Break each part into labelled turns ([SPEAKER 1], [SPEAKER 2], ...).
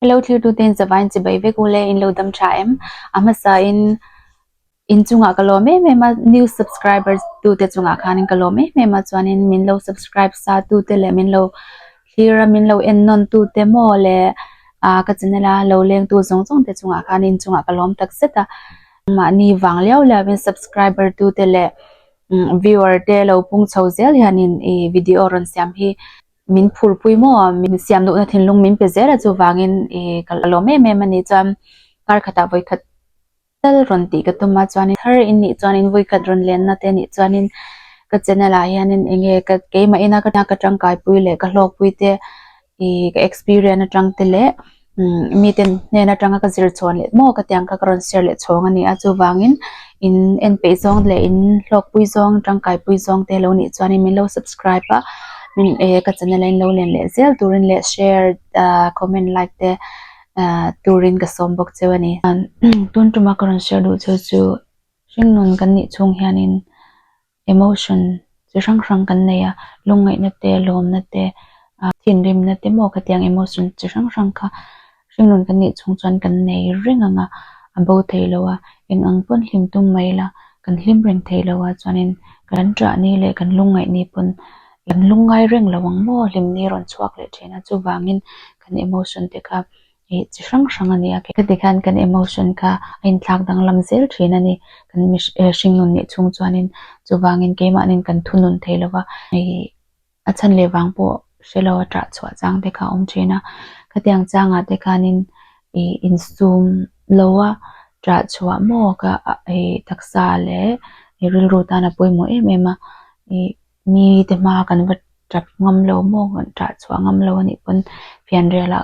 [SPEAKER 1] I lo thirtute'n zavain chibai vek u le, in lo dam tha em? A hmasain inchungah ka lawm em em a, new subscribers tute chungah khanin ka lawm em em a, chuanin min lo subscribe satute leh min lo thlir a, min lo en nawntute maw le ka channel a lo lengtu zawng zawng te chungah khan inchungah ka lawm tak zet a. Mahni vang liau liauin subscriber tute leh viewer te lo pung chho zel hianin i video rawn siam hi Min phur pui maw a, min siam duhna thinlung min pe zel a chuvangin i ka la lawm em em a ni chuan kar khatah vawi khat tal rawn tih ka tum a chuanin thar in nih chuan invawi khat rawn lenna te nih chuanin ka channel ah hianin enge ka keimah ina ka tangkai pui leh ka hlawkpui te i ka experience atang te leh Miten hnen atanga ka zir chhuah let maw ka tiang kha ka rawn share leh chhawng a ni a, chuvangin in en peih zawng leh in hlawkpui zawng tangkaipui zawng te lo nih chuan min lo subscribe a min ehh ka channel a in lo len leh zel turin leh share ahh comment like te ahh turin ka sawm bawk cheu a ni. Tun tuma ka rawn share duh cheu chu hringnun kan nih chung hianin. emotion chi hrang hrang kan nei a lungngaihna te lawmna te ah thinrimna te maw ka tiang emotion chi hrang hrang kha hringnun kan nih chung chuan kan nei reng ang a a bo thei lo a eng ang pawn hlim tum mai ila kan hlim reng thei lo a chuanin kan ṭahni leh kan lungngaihni pawn kan lungngai reng lo ang maw hlimni rawn chhuak leh ṭhin a chuvangin kan emotion te kha Ih chi hrang hrang a ni a, kheti khan kan emotion kha a in thlak danglam zel thin a ni, kan mihring hring nun nih chhung chuanin chuvangin keimahnin kan thu nun thei lova, ih a chhan leh vang pawh hrelo a tah chhuah chang te kha a awm thin a, khatiang changa te khanin ih in sum loa tah chhuah maw kha ih taksa leh rilru tan a pawimawh em em a, ih. Mite hma kan va tap ngam lo maw, kan tah chhuah ngam lo anih pawn fianriala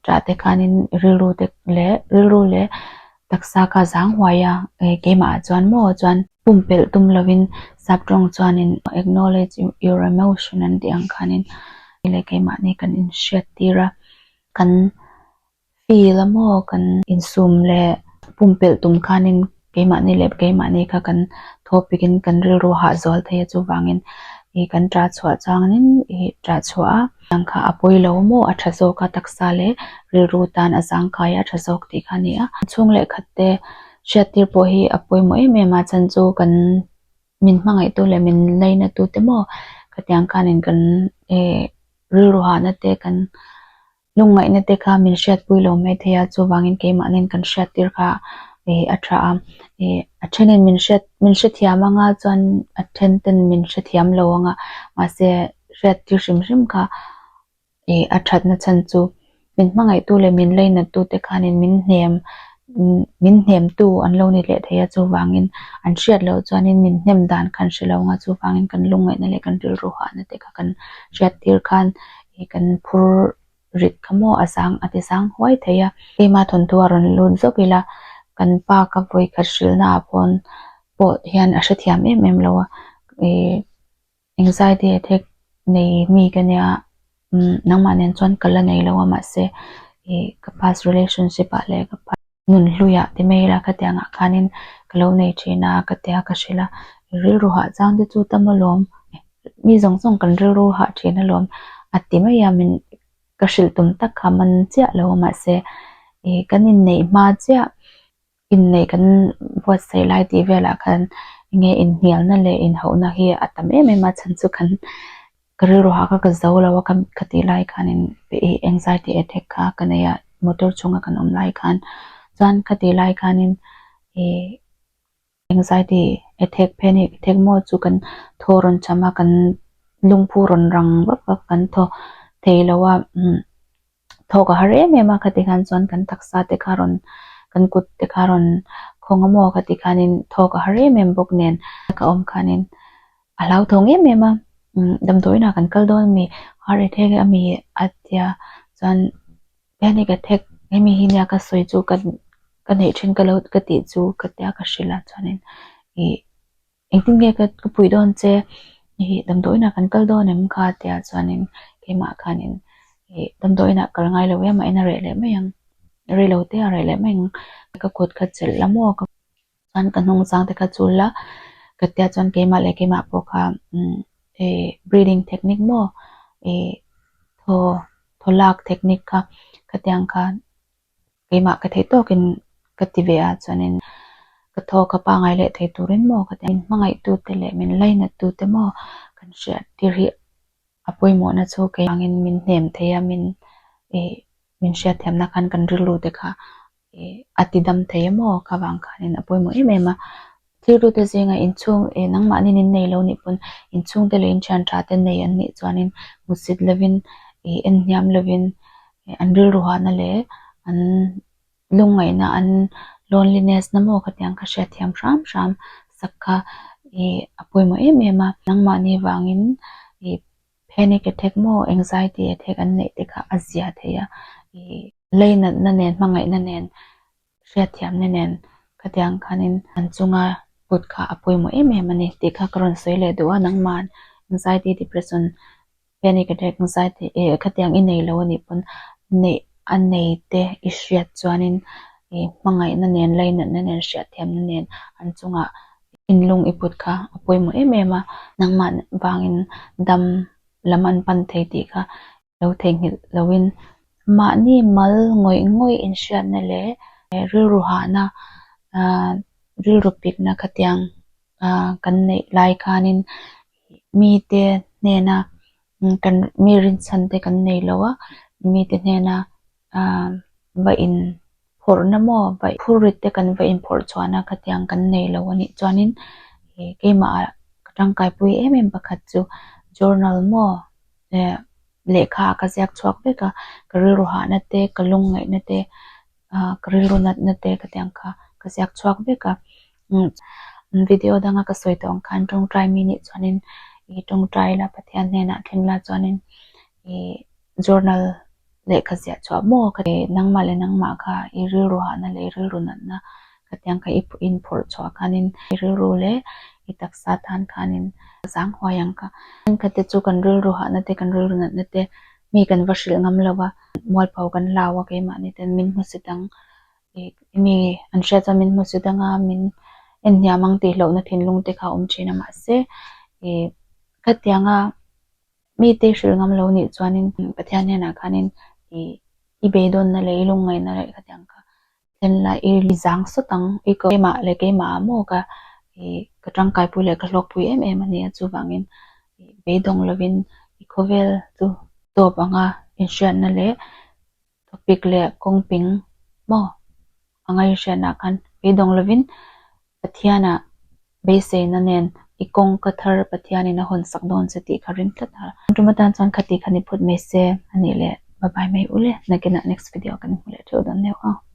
[SPEAKER 1] tah te khanin rilru te leh rilru leh taksa kha zang huai a, keimah ah chuan maw chuan pumpelh tum lovin Sabtawng chuanin acknowledge your emotion an tih ang khanin kei leh keimah ni kan inhriat tir a, kan Fi la maw kan insum leh pumpelh tum khanin keimahni leh keimahni kha kan thawhpik in kan rilru hahzual thei a chuvangin i kan ṭah chhuah chuang in i ṭah chhuah a, tiang kha a pawi lo maw a ṭha zawk a taksa leh rilru tan a zangkai a ṭha zawk tih kha a ni a. Chhung leh khat te hriattir pawh hi a pawimawh em em a chan chu kan min hmangaih tu leh min lei na tu te maw khatiang khanin kan rilru hahna te kan Lungngaihna te kha min hriatpui lo mai thei a, chuvangin keimahnin kan hriattir kha ih a tha a. Ih a thenin min hriat min hrethiam anga chuan a then ten min hrethiam lo anga, mahse hriattir hrim hrim kha ih a thatna chhan chu min hmangaihtu leh min lainatute khanin min hnem min hnemtu an lo ni leh thei a, chuvangin an hriat loh chuanin min hnem dan khan hre lo anga chuvangin kan lungngaihna leh kan rilru hahna te kha kan hriattir khan Hei kan phur rit kha maw a sang a ti sang huai thei a. Keima thawnthu a rawn lut zawk ila, kan pa ka vawi khat hrilhna ah paw'n pawh hian a hrethiam em em lo a, anxiety attack nei mi ka nia, nangmah nen chuan ka la nei lo a mahse, ka past relationship ah leh ka pa. nun hlui ah ti mai la ka ti ang ah khan in ka lo nei thin a ka ti a ka hre la rilru hah chang te chu tam alawm mi zawng zawng kan rilru hah thin alawm a ti mai a min ka hrilh tum tak kha man chiah lo mahse ih kan in neih hma chiah in neih kan buatsaih lai tih vel ah khan enge in hnial na leh in hauh na hi a tam em em a chhan chu kan Ka rilru hah kha ka zo lo a, ka tih lai khanin anxiety attack kha ka nei a, motor chhunga kan awm lai khan chuan ka tih lai khanin anxiety attack panic attack maw chu kan thaw rawn cham a, kan lungphu rawn rang vak vak kan thaw thei lo a. Thawk a har em em a, khati khan chuan kan taksa te kha rawn, kan kut te kha rawn khawng a maw khati khanin thawk a har em em bawk nen ka awm khanin a hlauthawng em em a, damdawiinah kan kal dawn a mi, har e thek a mi a tia chuan hian hi ka thek hemi hi nia ka sawi chu ka neih thin ka lo ka tih chu ka tia ka hrilh a chuanin ih Engtin nge ka ka puih dawn che ih damdawiinah kan kal dawn em kha tia chuanin keimah khanin ih damdawiinah kal ngai lo em a ina reh leh mai ang rei lo te a reh leh mai ang ka kut ka chelh la maw ka chuan ka hnung chang te ka chul la ka tia chuan keimah leh keimah pawh kha umm ih breathing technique maw ih thaw thaw lak technique kha khatiang kha. Keimah ka theih tawkin ka ti ve ah chuanin ka thaw ka pangai leh thei turin maw ka ti a, min hmangaihtu te leh min lainat tu te maw kan hria tir hi a pawimawhna chu kei angin min hnem thei a, min ih min hriatthiamna khan kan rilru te kha ih a tidam thei emaw kha vang khanin a pawimawh em em a, Thilrute zengah inchhung e nangmahnin in nei lo nih pawn inchhungte leh inthian tha te nei an nih chuanin hmusit lovin ih en hniam lovin an rilru hahna leh an lungngaihna an loneliness na maw khatiang ka hria thiam hram hram sak kha ih a pawimawh em em a nangmahni vangin ih panic attack maw anxiety attack an neih te kha a zia theih a ih lei natna nen hmangaihna nen hriatthiamna nen ka tiang khan in an chunga put kha a pawimawh em em a ni tih kha ka rawn sawi leh duh a, nangma'n anxiety, depression, panic attack, anxiety e ka tiang i nei lo a nih pawn neih a nei te i hriat chuan in i hmangaihna nen, lainatna nen, hriatthiamna nen an chunga in lung i put kha a pawimawh em em a, nangma'n vangin dam lam an pan thei tih kha lo theihnghilh loin mahni mal ngawih ngawih inhriatna leh rilru hahna aah rilru pikna khatiang aah kan neih lai khanin mite hnena kan mi rinchhan te kan nei lo a mite hnena Aaa va in phawrhna maw va phur rit te kan va in phawrh chhuah na kha tiang kan nei lo a nih chuan in ih keimah ah ka tangkai pui em em pakhat chu journal maw eh lehkha ah ka ziak chhuak vek a ka rilru hahna te ka lung ngaih na te ah ka rilru nat na te ka tiang kha ka ziak chhuak vek a umm video dang a ka sawi tawh ang khan tawngtai mi nih chuan in ih tawngtai la Pathian hnenah thleng la chuan in ih journal leh ka ziah chhuah maw ka ti. Nangmah leh nangmah kha i rilru hahna leh i rilru natna ka tiang kha i inphawrh chhuah khanin i rilru leh i taksa tan khanin ka zang huai ang ka. Engkhatete chu kan rilru hahna te kan rilru natna te mi kan va hrilh ngam lo a, mualpho kan la a keimahni ten min hmu si dang i mi an hria chuan min hmu si dang a, min en hniam ang tih hlauhna thinlung te kha a awm thin a mahse i ka tianga Mi te hrilh ngam lo nih chuanin Pathian hnenah khanin ih i be dawnna leh i lungngaihna leh ka tiang ka thlen lai, i i zang sawt ang, i ka keimah leh keimahah maw ka ih ka tangkaipui leh ka hlawkpui em em a nia, chuvangin ih beidawng lovin i khawvel chu tawp anga inhriatna leh Thupik leh kawngping maw? A ngaihriatna khan beidawng lovin Pathiana beiseina nen i kawng ka thar Pathianin a hawnsak dawn se tih kha ring tlat a. Ṭum atan chuan khati khan i phut mai se a nih leh. Bye bye mai u le. Nakinah next video ah kan hmu leh ṭheuh dawn neuh a.